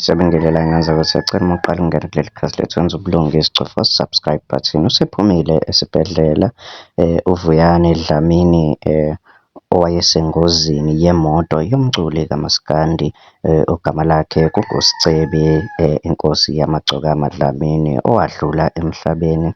Siyabingelela ngenza ukuthi siyacela uma uqala ungena kuleli khasi lethu wenza ubulungisi cofa subscribe button usephumile esibhedlela eh uVuyani Dlamini eh owayesengozini yemoto yomculi kamaskandi eh, ogama lakhe kunguSicebi eh, inkosi yamagcokama Dlamini owadlula emhlabeni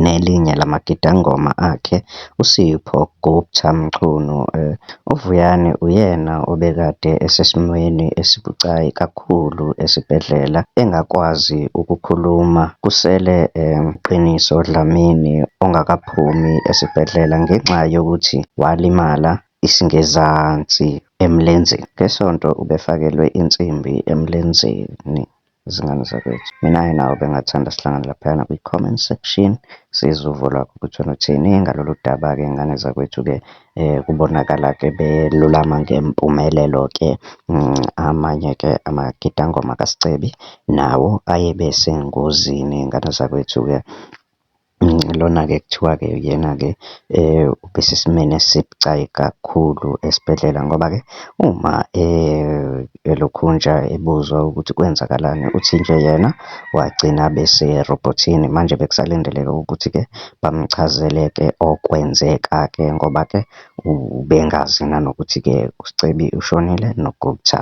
nelinye lamagidangoma akhe uSipho Gupta Mchunu. UVuyani uyena obekade esesimweni esibucayi kakhulu esibhedlela engakwazi ukukhuluma kusele Qiniso Dlamini ongakaphumi esibhedlela ngenxa yokuthi walimala isingezansi emlenzeni. NgeSonto ubefakelwe insimbi emlenzeni. izingane zakwethu. Mina-ke nawe bengathanda sihlangane laphayana kwi-comment section sizwe uvo lwakho ukuthi wena uthini ngalolu daba-ke ngane zakwethu-ke um kubonakala-ke belulama ngempumelelo-ke mm, amanye-ke amagidangoma kasicebi nawo ayebe sengozini ngane zakwethu-ke Lona-ke kuthiwa-ke uyena-ke obesesimeni esibucayi kakhulu esibhedlela ngoba-ke uma elokhunja ebuzwa ukuthi kwenzakalani, uthi nje yena wagcina abe serobhothini. Manje bekusalindeleke ukuthi-ke bamchazele-ke okwenzeka-ke ngoba-ke. Ubengazi nanokuthi-ke uScebi ushonile noGupta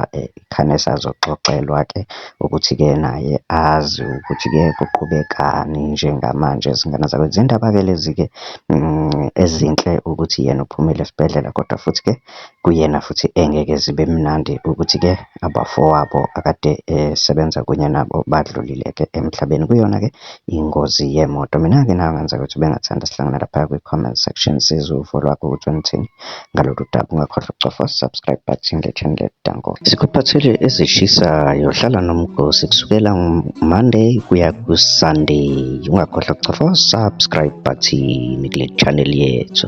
khane esazoxoxelwa-ke ukuthi-ke naye azi ukuthi-ke kuqhubekani njengamanje. Izingane zabo zindaba-ke lezi-ke ezinhle ukuthi yena uphumile esibhedlela kodwa futhi-ke kuyena futhi engeke zibe mnandi ukuthi-ke abafowabo akade esebenza kunye nabo badlulile-ke emhlabeni. Kuyona-ke ingozi yemoto. Mina-ke nawe kungenzeka ukuthi ubengathanda sihlangane laphaya kwi-comment section sizwe uvo lwakho ukuthi ungithini ngalolu daba. Ungakhohlwa ukucofa subscribe button ngethende danko. Sikuphathele ezishisayo hlala nomgosi kusukela Monday kuya ku-Sunday. Ungakhohlwa ukucofa subscribe button kule channel yethu.